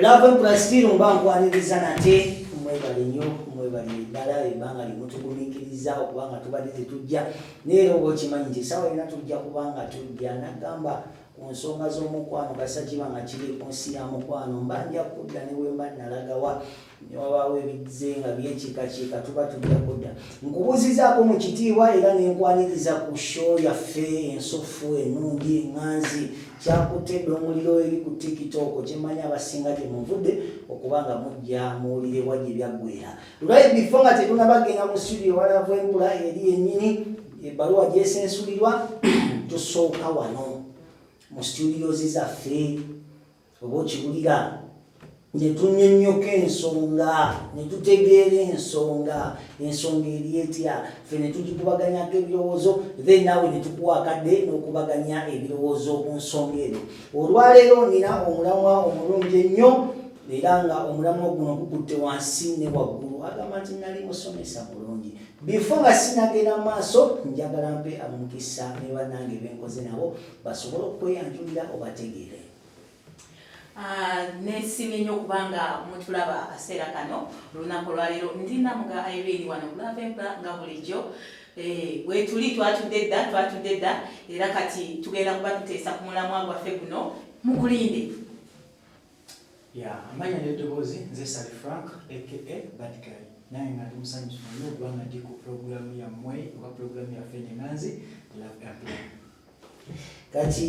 lava empurasitiri mba nkwaniriza nate mwebale nnyo mwebale ddala ebbanga limutugumikiriza okuba nga tubadde tetujja naye era oba okimanyi nti esawa yona tujja kuba nga tujja nagamba ku nsonga z'omukwano kasakibanga kiri ku nsi ya mukwano mba nja kudda ne wemba nalagawa ne wabaawo ebizze nga byekiikakiika tuba tujja kudda nkubuuzizaako mu kitiibwa era ne nkwaniriza ku sho yaffe ensuffu enungi eŋŋanzi kyakutte dda omuliro eri ku tikitooko kyemmanyi abasinga gye muvudde okuba nga mujja muwulire wa gye byaggwera lulayi bifo nga tetunabagenda mu situdiyo walavu enkula eri yennyini ebbaluwa gyesensulirwa tusooka wano mu situdiyozi zaffe oba okiwulira ne tunyonnyoka ensonga ne tutegeera ensonga ensonga eri etya ffe ne tugikubaganyako ebirowoozo then naawe ne tukuwa akadde n'okubaganya ebirowoozo ku nsonga eno olwaleero nina omulamwa omulungi ennyo era nga omulamwa guno gukutte wansi ne waggulu agamba nti nali musomesa mulungi bifo nga sinagenda mu maaso njagala mpe amukisa ne bannange benkoze nabo basobole okweyanjulira obategeere Ah, nesimye nnyo kubanga mutulaba akaseera kano olunaku olwaleero ndi namuga irene wano bulavemba nga bulijjo eh, wetuli twatudde dda twatudde dda era kati tugenda kuba tuteesa ku mulamwa gwaffe guno mukulinde ya amanya neddoboozi nze sali frank aka badgal naye nga ndi musanyufu nnyo kubanga ndi ku pulogulamu yammwe oba pulogulamu yaffe nenanzi love ampla kati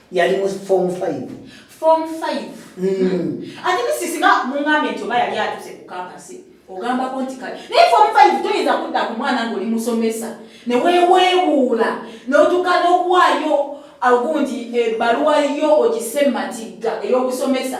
yali mu form 5 form 5 mm. ati misisi nga mungambe nti oba yali atuse ku kampasi ogambako nti kale naye form 5 toyinza kudda ku mwana ngaoli musomesa ne weweebuula n'otuka n'okuwaayo agundi ebbaluwa yo ogise matigga ey'okusomesa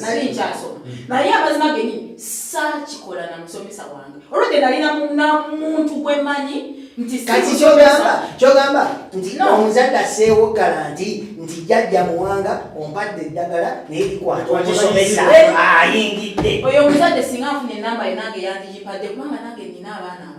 nali nkyasoma naye amazima geni saakikola na musomesa wange olwedde nali namuntu gwemanyi nti kati kyogamba kyogamba nti omuzadde aseewo galanti nti jajja muwanga ompadde eddagala naye likwata omusomesa ayingidde oyo omuzadde singa afuna enamba ye nange yandiyipadde kubanga nange nina abaana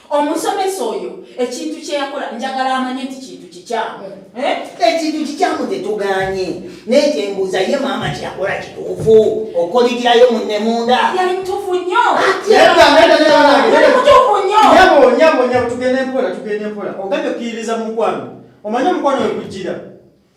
omusomesa oyo ekintu kyeyakola njagala amanye nti kintu kikyamu eh? ekintu kikyamu tetuganye naye kyembuuza ye maama kyeyakola kituufu okoligirayo munne munda yali mutuufu nnyo tugende mpola tugende mpola ogambye okuyiriza mu mukwano omanye omukwano wekujjira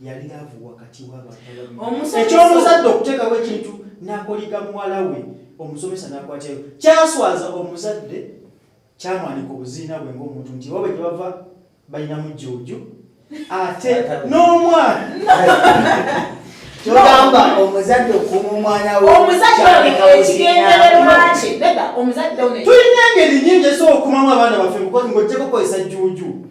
yali laavu wakati w'abantu eky'omuzadde okuteekawo ekintu n'akoliga muwala we omusomesa n'akwatyayo kyaswaza omuzadde kyamwanika obuziina bwe ng'omuntu nti oba bwe gyebava balinamu jjuuju ate n'omwana kyogamba omuzadde okuuma omwana weomuzaddekyekigendererwakye tulina engeri nyingi esobola okukumamu abaana baffe ng'ojjeko kozesa jjuuju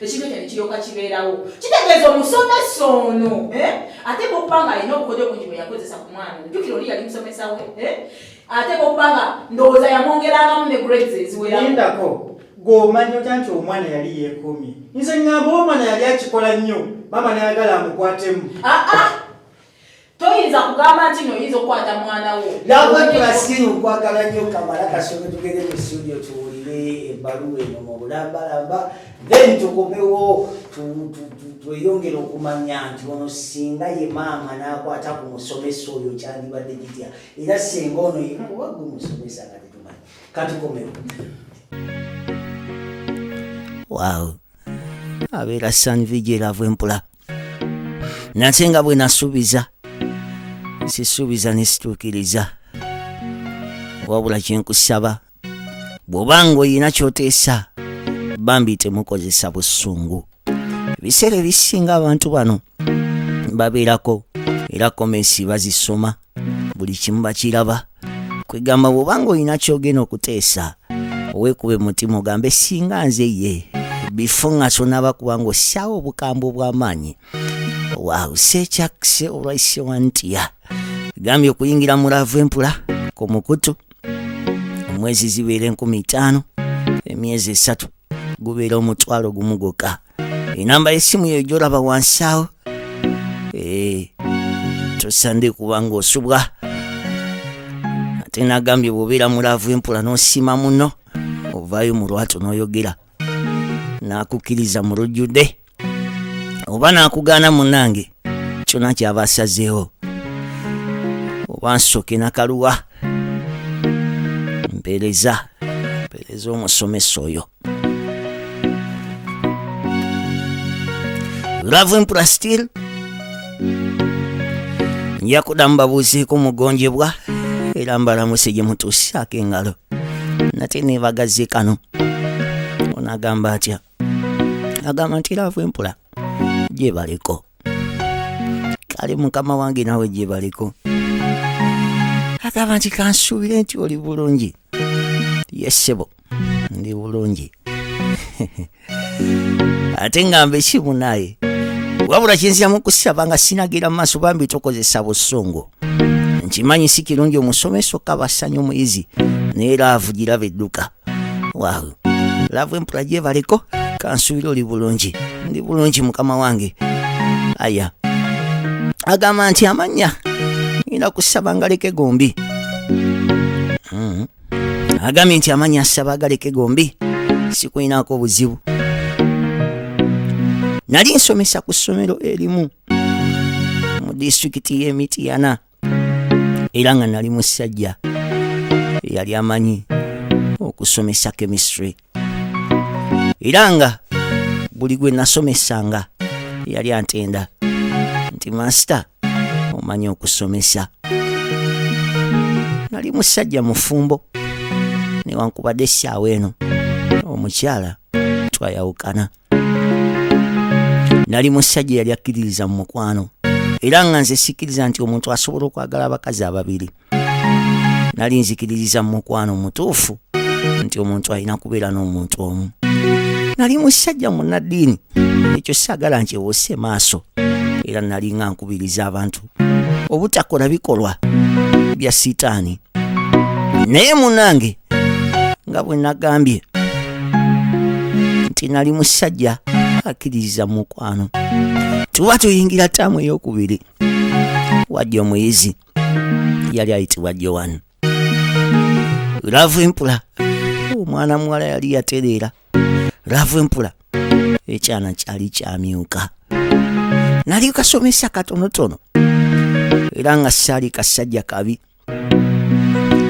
ekintu ekyo nekiryoka kibeerawo kitegeeza omusomesa ono eh? ateeka okuba nga alina obukodyo bungi bwe yakozesa ku mwana jukira oli yali musomesa we eh? ateeka okuba nga ndowooza yamwongerangamu ne grades eziwerako gomanya otya nti omwana yali yeekuumye nze ngamba omwana yali akikola nnyo maama nayagala amukwatemu ah, ah! toyinza kugamba nti no oyinza okukwata mwana wo nawekulasiyo okwagala nyo kamala kasome tugende mu studio tuwulire ebbaluwa eno mu bulambalamba then tukomewo tweyongere okumanya nti ono singa ye maama nakwata ku musomesa oyo kyandibadde kitya era singa ono yekuba gwe musomesa nga tetumanyi katukomewo waaw abeera sanvijeravu empula nate nga bwe nasuubiza sisuubiza ne situukiriza wabula kye nkusaba bw'oba ng'olina ky'oteesa bambi temukozesa busungu ebiseera ebisinga abantu bano babeerako era komensi bazisoma buli kimu bakiraba kwegamba bwobanga olina kyogenda okuteesa owekube mutima ogambe singa nze ye bifo nga sonaba kubanga ossaawo obukambwe obw'amaanyi waaw sekyakse olwaise wantiya gambye okuyingira mu laavu empula ku mukutu omwezi zibeera enkumi ttaano emyezi esatu gubeera omutwalo gumu gwokka enamba y'essimu yo gyolaba wansi awo eh, tosande kuba ng'osubwa ate nagambye bwobeera mulaavu empula n'osiima muno ovaayo mu lwatu n'oyogera n'akukkiriza mu lujjudde oba n'akugaana munange kyona kyava asazeewo oba nsoke nakaluwa mpereza mpereza omusomesa oyo love empura still nja kuda mbabuuzeeko mugonjebwa era mbalamuse gye mutuusaako engalo nate neebagaze kano onagamba atya agamba nti laavu empula gyebaliko kale mukama wange nawe gyebaliko agamba nti kansuubire nti oli bulungi yesebo ndi bulungi ate ngamba ekimu naye wabula kyenziramu okusaba nga sinagira mu maaso bambi tokozesa busungu nkimanyi si kirungi omusomesa okabasanya omuyizi naye laavu giraba edduka wawu lava empula gyebaleko kansuubira oli bulungi ndi bulungi mukama wange aya agamba nti amannya ina kusaba ngaleke gombi mm. agambye nti amannya asaba agaleke gombi sikulinako obuzibu nali nsomesa ku ssomero erimu mu disitulikiti y'emityana era nga nali musajja eyali amanyi okusomesa chemistry era nga buli gwe nasomesanga yali antenda nti masita omanyi okusomesa nali musajja mufumbo newankubadde essaawa eno omukyala twayawukana nali musajja yali akkiririza mu mukwano era nga nze sikkiriza nti omuntu asobola okwagala abakazi ababiri nali nzikiririza mu mukwano mutuufu nti omuntu alina kubeera n'omuntu omu nali musajja munnaddiini ekyo saagala nkyewose maaso era nali nga nkubiriza abantu obutakola bikolwa bya sitaani naye munange nga bwe nagambye nti nali musajja akkiririza mu mukwano tuba tuyingira taamu ey'okubiri wajja omuyizi yali ayitibwa joan laavu empula omwana muwala yali yatereera laavu empula ekyana kyali kyamyuka nali kasomesa katonotono era nga saali kasajja kabi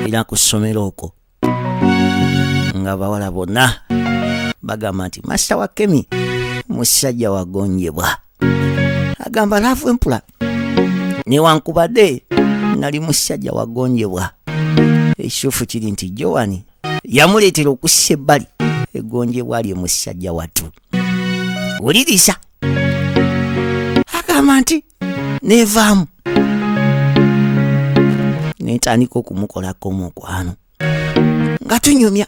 era ku ssomero okwo nga bawala bonna bagamba nti masita wa kemi musajja wagonjebwa agamba laavu empula newankubadde nali musajja wagonjebwa ekituufu kiri nti jowani yamuleetera okussa ebbali egonjebwa lye musajja wattu wuliriza agamba nti neevaamu netandika okumukolako omukwano nga tunyumya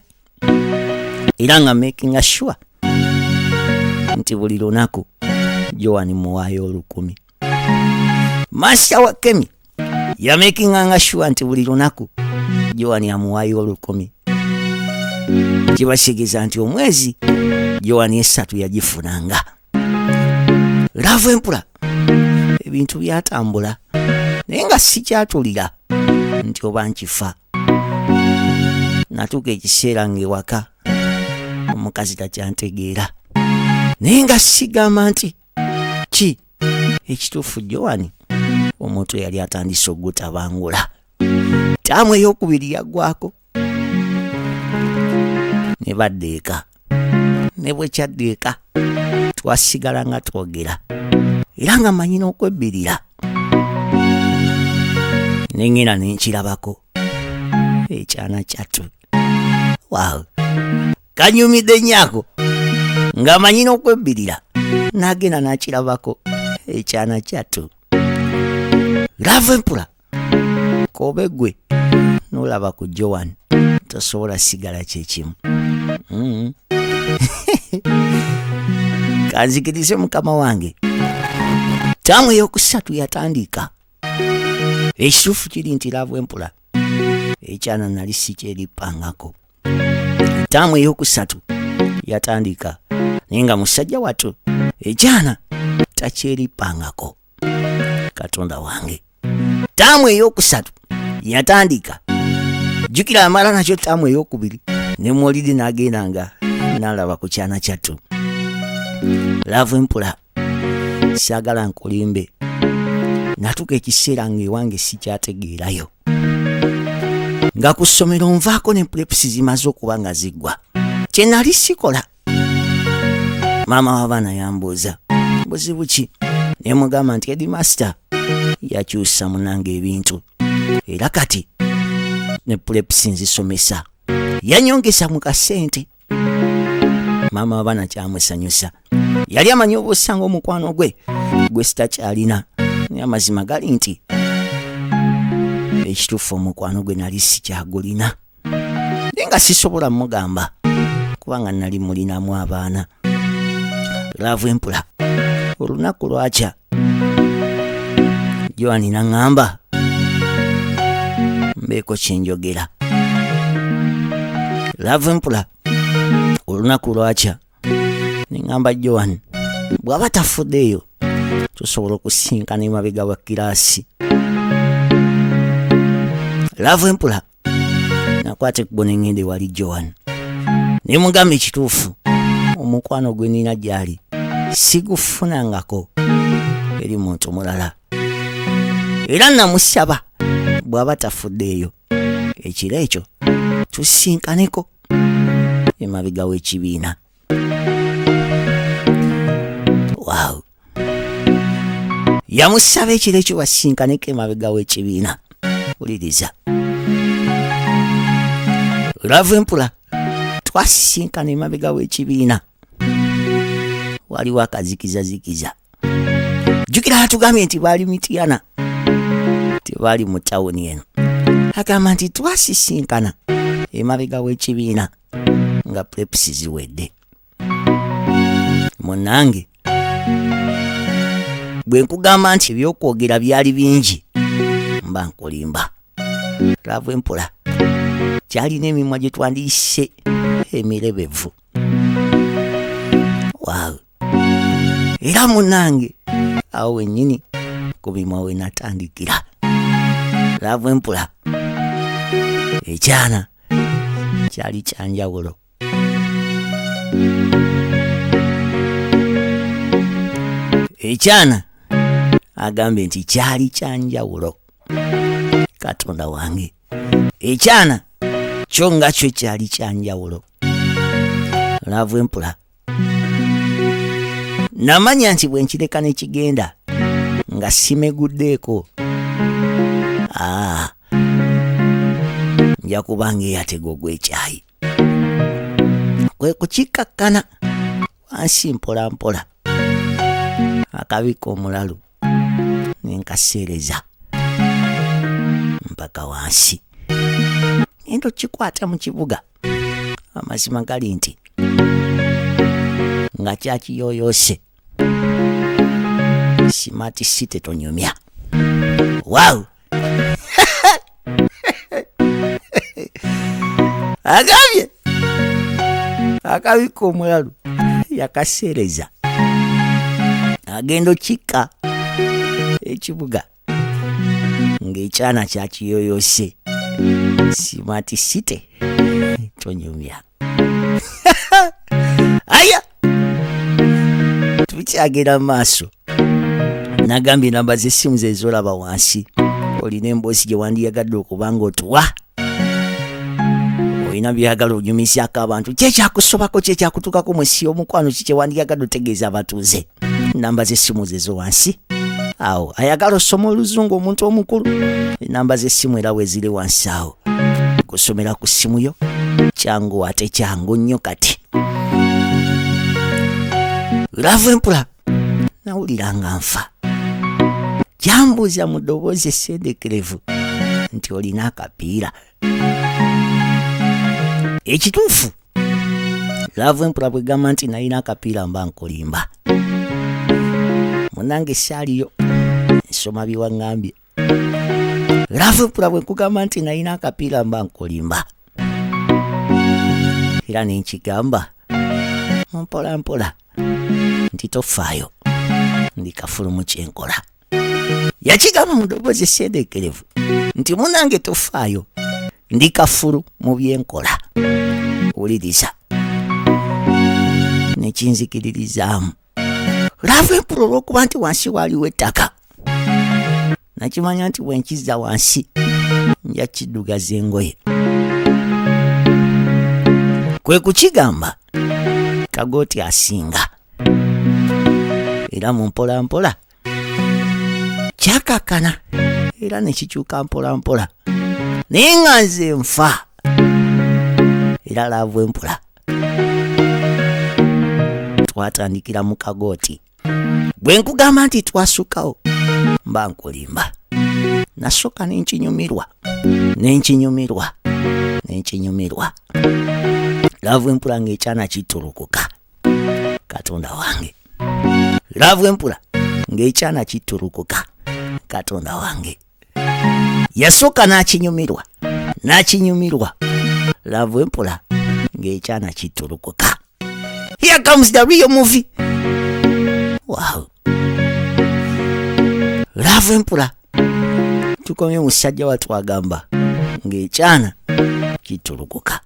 era nga makinga sure nti buli lunaku joani muwaayo olukumi masita wa kemi yamekinganga shuwa nti buli lunaku joani amuwaayo olukumi kibasigiza nti omwezi joani esatu yagifunanga laavu empula ebintu byatambula naye nga sikyatulira nti oba nkifa natuuka ekiseera ng'ewaka omukazi takyantegeera naye nga sigamba nti ki ekituufu jowani omuntu eyali atandise okugutabangula taamu eyokubiri yaggwako ne badda eka ne bwekyadda eka twasigala nga twogera era nga manyi n'okwebbirira nengenda nenkirabako ekyana kyattu waaw kanyumidde nyako nga manyi n'okwebbirira n'agenda n'akirabako ekyana kyattu lava empula kobe gwe n'olaba ku joan tosobola sigala kyekimu mm. kanzikirize mukama wange taamu eyokusatu yatandika ekituufu kiri nti lava empula ekyana nali sikyeripangako taamu eyokusatu yatandika naye nga musajja watu ekyana takyeripangako katonda wange taamu eyokusatu yatandika jukira amala nakyo taamu eyokubiri ne molidi nagendanga nalaba ku kyana kyattu laavu empula saagala nkulimbe natuka ekiseera ng'ewange sikyategeerayo nga ku ssomero nvaako ne pulepusi zimaze okuba nga ziggwa kye nali sikola maama w'abaana yambuuza buzibu ki ne mugamba nti edimasita yakyusa munanga ebintu era kati ne pulepusi nzisomesa yanyongesa mu kasente maama wabana kyamusanyusa yali amanyi obusa ngaomukwano gwe gwe sitakyalina naye amazima gali nti ekituufu omukwano gwe nali sikyagulina naye nga sisobola mugamba kubanga nali mulinamu abaana laavu empula olunaku lwakya joani naŋŋamba mbeeko kyenjogera laavu empula olunaku lwakya neŋŋamba joani bw'aba tafuddeeyo tusobola okusinkana emabega wa kiraasi laavu empula nakwata ekkubo ne ŋŋenda ewali joan ne mugamba ekituufu omukwano gwe nina gy'ali sigufunangako eri muntu mulala era namusaba bw'aba tafuddeeyo ekiro ekyo tusisinkaneko emabega w'ekibiina wow. yamusaba ekiro ekyo basinkaneko emabega w'ekibiina wuliriza lava empula twasisinkana emabega w'ekibiina waliwo akazikizazikiza jukira atugambye nti baali mitiyana tebaali mu tawuni eno agamba nti twasisinkana emabega w'ekibiina nga prepusi ziwedde munange bwe nkugamba nti ebyokwogera byali bingi mba nkulimba laavu empola kyalina emimwa gye twandiyise emirebevu waawe era munange awo wenyini kubimwa wenatandikira laavu empula ekyana kyali kyanjawulo ekyana agambye nti kyali kyanjawulo katonda wange ekyana kyo nga kyo kyali kyanjawulo laavu empula namanya nti bwe nkireka ne kigenda nga simeguddeeko ah. nja kuba ng'eyatega ogw'ekyayi kwe kukikkakkana wansi mpola mpola akabika omulalu nenkaseereza mpaka wansi ento kikwata mu kibuga amazima gali nti nga kyakiyoyose smart city tonyumya wow agambye akabika omulalu yakaseereza agenda okikka ekibuga ng'ekyana kyakiyoyose simati site tonyumya aya tukyagera maaso nagambye namba z'essimu zezolaba wansi olina emboosi gye wandiyagadde okuba nga otuwa olina byagala onyumizaako abantu kyekyakusobako kyekyakutukako musi omukwano kikyewandyagadde otegeeza abatuuze namba zesimu zezo wansi awo ayagala osoma oluzungu omuntu omukulu enamba zesimu era weziri wansi awo kusomera ku simu yo kyangu ate kyangu nnyo kati lava empula nawulira nga nfa kyambuuza mu ddoboozi essendekerevu nti olina akapiira ekituufu laavu empula bwe gamba nti nalina akapiira mba nkolimba munange saaliyo nsoma biwaŋŋambye lavepula bwe nkugamba nti nalina akapiira mba nkulimba era nenkigamba mpola mpola nti tofaayo ndi kafulumu kyenkola yakigamba mu ddoboozi esendekerevu nti munange tofaayo ndi kafulu mu byenkola wuliriza nekinzikiririzaamu laavu empula olw'okuba nti wansi waaliwo ettaka nakimanya nti bwenkizza wansi nja kiddugaza engoye kwe kukigamba kagooti asinga era mu mpolampola mpola. kyakakkana era ne kikyuka mpolampola naye nga nze nfa era laavu empola twatandikira mu kagooti bwe nkugamba nti twasukawo mba nkulimba nasooka nenkinyumirwa nenkinyumirwa nenkinyumirwa laavu empola ng'ekyana kitulukuka katonda wange laavu empula ng'ekyana kitulukuka katonda wange yasooka n'akinyumirwa n'akinyumirwa laavu empula ng'ekyana kitulukuka here comes the real movie wow laavu empula tukomye musajja watwagamba ng'ekyana kitulukuka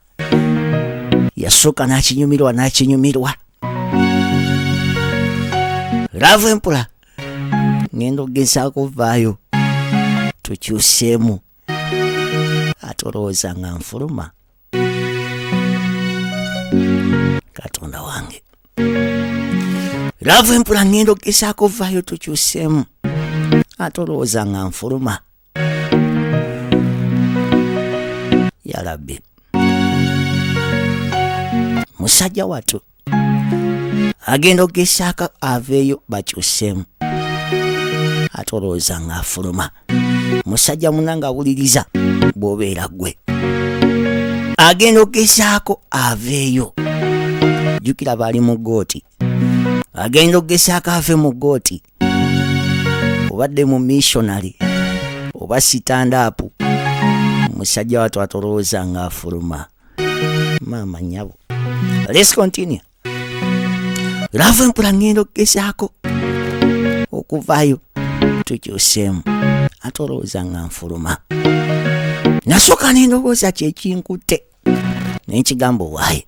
yasooka n'akinyumirwa n'akinyumirwa laavu empula ngenda okugezaako vaayo tukyuseemu ate olowooza nga nfuluma katonda wange laavu empula ngenda okugezaako vaayo tukyuseemu ate olowooza nga nfuluma ya rabbi musajja watu agenda okugesaako aveeyo bakyusemu ate olowooza ng'afuluma musajja muna nga awuliriza bw'obeera gwe agenda okugesaako aveeyo jjukira baali mu gooti agenda okugesaako ave mu gooti obadde mu missionary oba sitandaapu musajja watu atolowooza nga afuluma maama nyabo let's continue lava empula ngenda okugezaako okuvaayo tukyuseemu ate olowooza nga nfuluma nasooka nendowooza kyekinkutte naye kigambo waaye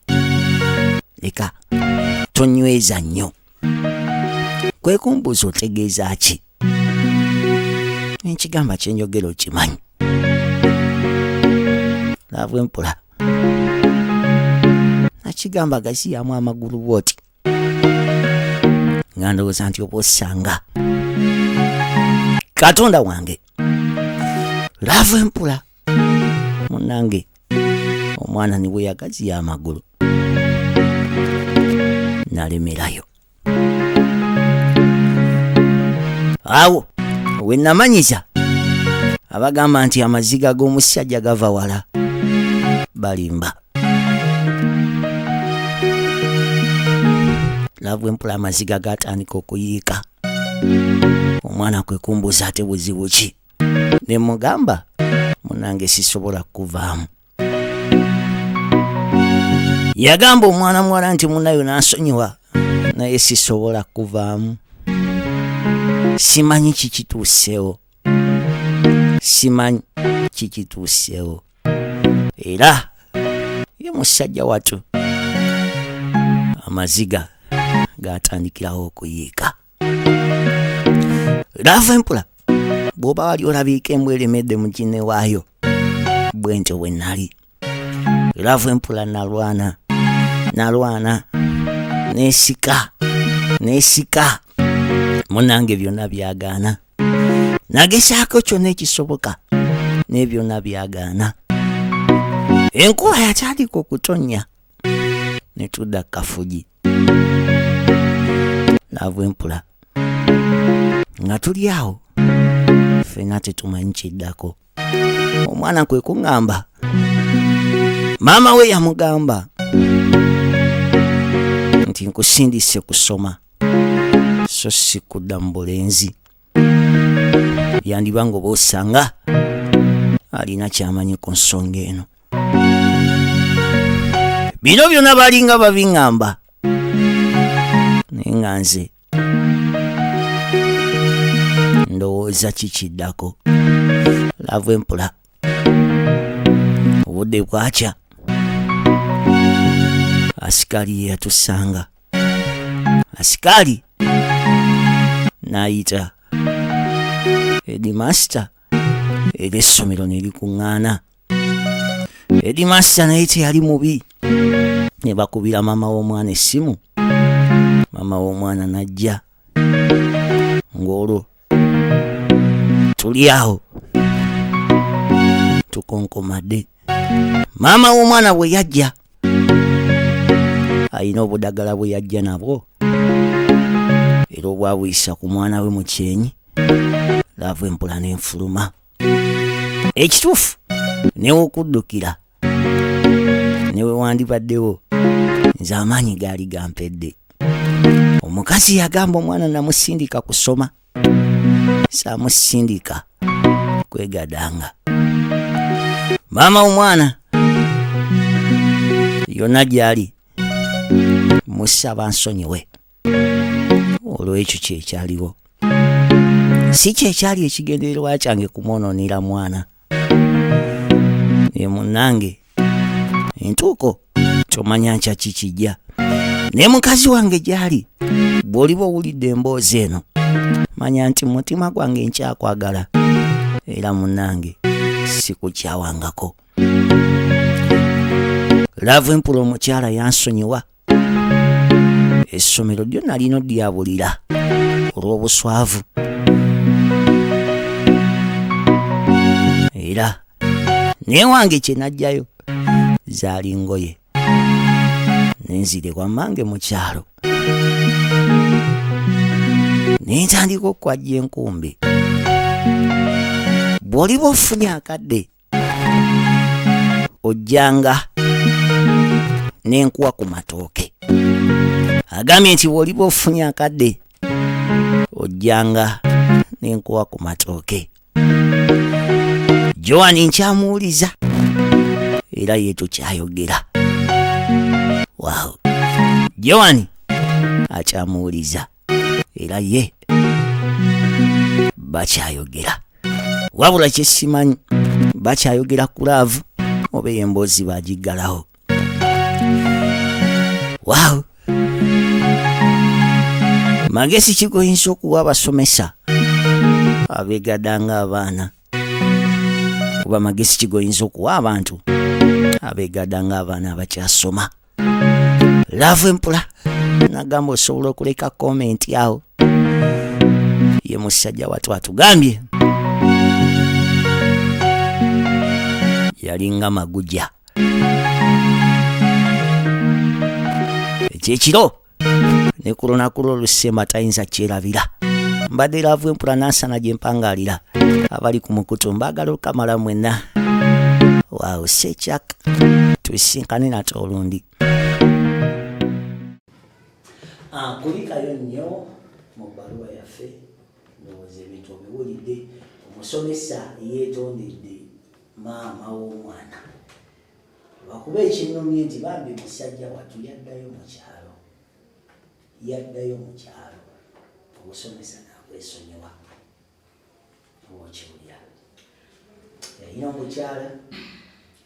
leka tonyweza nnyo kwe kumbuuza otegeeza ki enkigamba kyenjogera okimanyi laavu empola nakigamba gaziyamu amagulu bwoti nga ndowooza nti oba osanga katonda wange laavu empola munange omwana niwe yagaziya amagulu nalemerayo awo wenamanyisa abagamba nti amaziga g'omusajja gava wala balimba laavu empula amaziga gatandika okuyiika omwana kwe kumbuuza ate buzibu ki ne mugamba munange sisobola kuvaamu yagamba omwana muwala nti munayo n'asonyiwa naye sisobola kuvaamu simanyi kikituuseewo simanyi kikituuseewo era ye musajja watu amaziga gaatandikirawo okuyiika lava empula bw'oba wali olabiika embwa eremedde mu kinne waayo bwe ntyo bwe nnali lava empula nalwana nalwana nesika nesika munange byonna byagaana nagezaako kyonna ekisoboka naye byonna byagaana enkuba yakyalika okutonnya ne tudda ku kafugi naava empula nga tuli awo fena tetumanyi kiddako omwana kwe kuŋŋamba maama we yamugamba nti nkusindise kusoma so si kudda mu bulenzi yandiba nga oba osanga alina kyamanyi ku nsonga eno bino byona balinga babiŋŋamba naye nga nze ndowooza kikiddako laavu empula obudde bwakya asikaali ye yatusanga asikaali n'ayita edimasita era essomero ne likuŋŋaana edimasita naye teyali mubi ne bakubira maama w'omwana essimu maama w'omwana n'ajja ng'olwo tuli awo tukonkomadde maama w'omwana bwe yajja alina obudagala bwe yajja nabwo era obwabuyisa ku mwana we mu kyenyi laavu empula nenfuluma ekituufu newokuddukira newewandibaddewo nze amaanyi gaali gampedde omukazi yagamba omwana namusindika kusoma samusindika kwegadanga maama omwana yonna gyali musaba nsonyiwe olw'ekyo kyekyaliwo si kyekyali ekigendererwa kyange kumwonoonera mwana naye munnange entuuko kyomanya nkya kikijja naye mukazi wange gyali bw'oliba owulidde emboozi eno manya nti mu mutima gwange nkyakwagala era munnange sikukyawangako laavu empula omukyala yansonyiwa essomero lyo nalina odyabulira olw'obuswavu era newange kye najjayo zaali ngoye nenzire wamange mu kyalo nentandika okukwajja enkumbi bw'oliba ofunye akadde ojjanga n'enkuwa ku matooke agambye nti bw'oliba ofunye akadde ojjanga n'enkuwa ku matooke joan nkyamuwuliza era ye tukyayogera wow joan akyamuwuliza era ye bakyayogera wabula kyesimanyi bakyayogera ku laavu oba eyo emboozi bagiggalawo waaw magezi kigoyinza okuwa abasomesa abegada nga abaana oba magezi kigoyinza okuwa abantu abegada nga abaana abakyasoma laavu empula nagamba osobola okuleka komenti awo ye musajja watu atugambye yalinga maguja ekyekiro ne ku lunaku lwo lusemba tayinza kyerabira mbadde laavu empula nansana gye mpangaalira abali ku mukutu mbaagala okamala mwenna waawo sekyaka tusinkane nate olundi ah, kulikayo nnyo mu bbaluwa yaffe ndowooza ebintu obiwulidde omusomesa yeetondedde maama w'omwana lwakuba ekinnumye nti bambi musajja wattu yaddayo mu kyalo yaddayo mu kyalo obusomesa nakwesonyiwa okiwulira yalina omukyala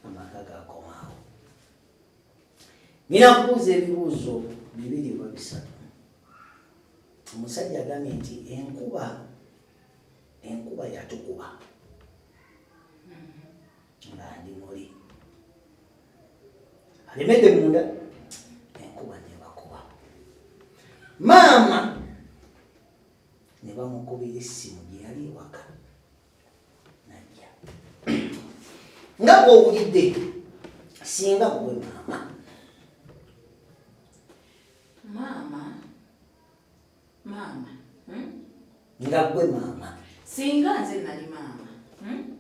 amaka gakomaawo nyina kubuuza ebibuuzo bibiri oba bisatu omusajja agambye nti enkuba enkuba yatukuba nga ndi muli alemedde munda enkuba nebakuba maama ne bamukubira essimu gye yali ewaka najja nga bwowulidde singa gwe maama maama maama hmm? nga gwe maama singa nze nali maama hmm?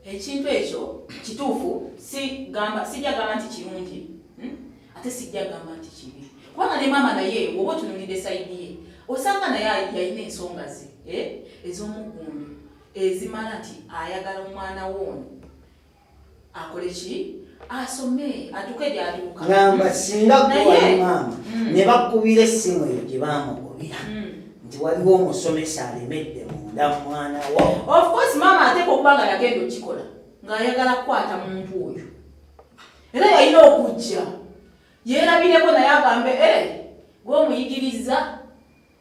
ekintu ekyo kituufu sigamba sijja gamba nti kirungi hmm? ate sijja gamba nti kibi kubanga ne maama naye woba otunulidde sayidi ye osanga naye yalina ensonga ze eh? ez'omuggundu ezimala nti ayagala omwana woono akole ki asome atuke gyatuuka ngamba singa gwewali maama mm. ne bakubira essimu eyo gye baamugobera mm. nti waliwo omusomesa alemedde munda mwana wo ofcourse maama ateeka okuba nga yagenda okikola ng'ayagala kukwata muntu oyo era yalina okujja yeerabireko naye agambe e eh, gweomuyigiriza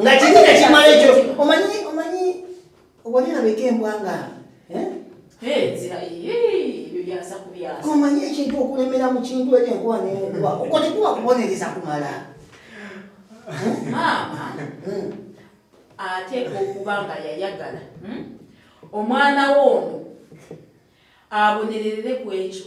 nga kiri nekimala ekyo omanyi omanyi owanirabeka embwa nga eh? omanyi ekintu okulemera mu kintu ekyo enkuba nenkuba okwo tekuba kubonereza kumala maama hmm. ateeka okuba nga yayagala hmm? omwana wo ono abonererere ku ekyo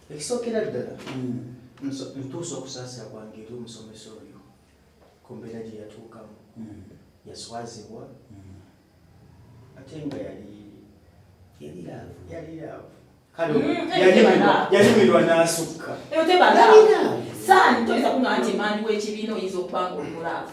ekisookera ddala mm. ntuusa okusaasira kwange eri omusomesa oyo ku mbeera gye yatuukamu mm. yaswazibwa mm. ate nga yali yaliraavu kale yalimirwa n'asukka saani toyinza kuŋaa nti emanyi w'ekibiina oyinza okubanga omulaavu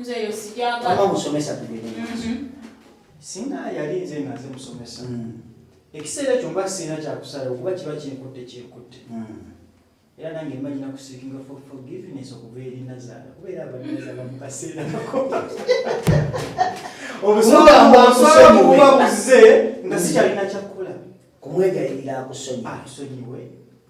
nze yo sijagala kama musomesa tugende mhm. singa yali nze nga nze musomesa mm. ekiseera ekyo mba sirina kyakusalawo kuba kiba kinkutte kinkutte mm. era nange mbanyina kusikinga forgiveness okuva eri nazaala kubeera abanazala mu kaseera ako obusobola buze nga sikyalina kyakukola kumwegayirira akusonyiwe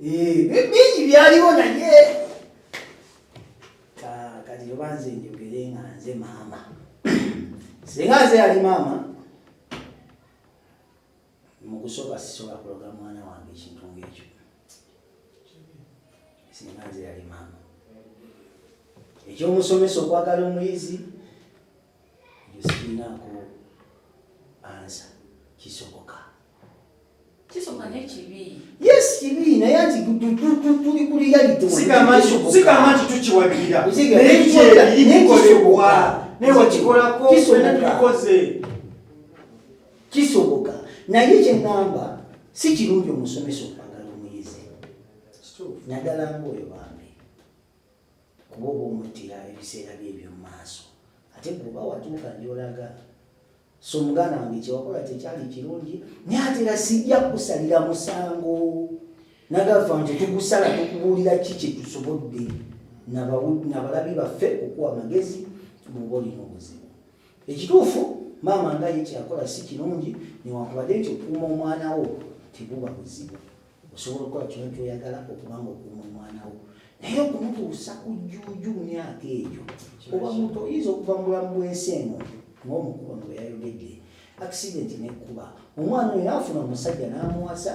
bingi byaliwo naye kati oba nze njogere nga nze maama singa nze yali maama mukusooka sisobola kuloga mwana wange ekintu ngaekyo singa nze yali maama ekyomusomesa okwagala omuyizi ekyo sirinaako ansa kisoboka yes kibi naye anti tuli ku realitisigamba nti tukiwagirira naye kyekikolebwa naye wakikolako fena tukikoze kisoboka naye kyeŋŋamba si kirungi omusomesa okwagala omuyizi naddala ngaoyo bambi kuba oba omuttira ebiseera bye ebyomumaaso ate kuba watuuka gyolaga so muganda wange kyewakola kyekyali kirungi naye ate era sijja kukusalira musango nagafa nti tugusala tukubuulira ki kyetusobodde nabalabi baffe okuwa amagezi muba olina obuzibu ekituufu maama nga ye kyeyakola si kirungi newankubadde nti okuuma omwana wo tebuba buzibu osobola okukola kyona kyoyagala okubanga okuuma omwana wo naye okumutuusa ku jjuuju mu myaka egyo oba muntu oyinza okuva mu bulamu bwensi eno ngaomukuba mu beyayogedde akisidenti nekuba omwana oyo naafuna omusajja n'amuwasa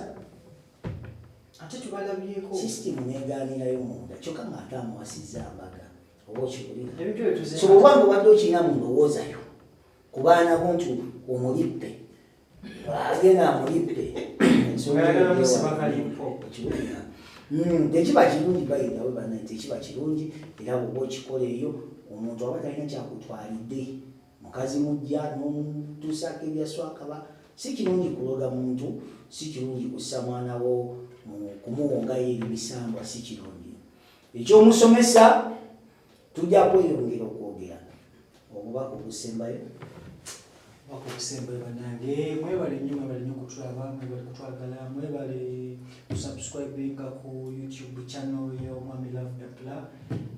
ate tubalabyeko sisitimu negaanirayo munda kyokka ngaate amuwasizza mbaga oba okiwulirasobanga obadde okirina mu ndowoozayo ku baana bo nti omulippe agenda amulidde hmm, tekiba kirungi bayinawe bana tekiba kirungi era bwoba okikola eyo omuntu aba talina kyakutwalidde mukazi mujja nomutuusaako ebyaswakaba si kirungi kuloga muntu si kirungi kussa mwana wo kumuwongayo ebimisambwa si kirungi ekyomusomesa tujja kweyongera okwogera omubaka ogusembayo wako obusembe banange mwebale nnyo mwebale nnyo kutulaba mwebale kutwagala mwebale kusubscribinga ku youtube channel ya omwami love dapla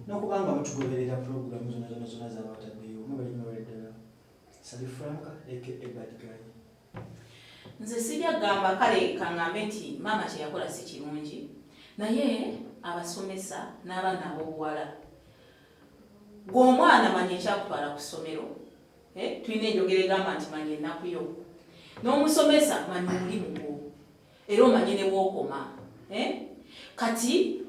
nokubanga mutugoberera puroguramu zona zona zona zabataddeyo mwebale mwebale ddala sali franka aka bad guy nze sijja kugamba kale kaŋŋambe nti maama kye yakola si kirungi naye abasomesa n'abaana ab'obuwala gwe omwana manya ekyakutwala ku ssomero eh, tulina enjogera egamba nti manya ennaku yo n'omusomesa manya omulimu gwo era omanye ne wokoma eh? kati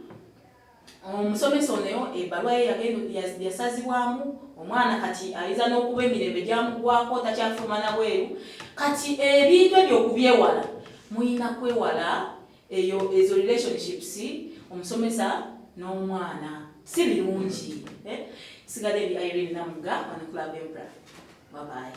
omusomesa onoyo ebaluwa ye yasazibwamu omwana kati ayinza n'okuba emirembe gyamugwako takyafuluma na bweru kati ebintu ebyo okubyewala muyina kwewala eyo ezo relationships omusomesa n'omwana si birungi eh? sigala ebi irene namuga wanakulaba embra babaye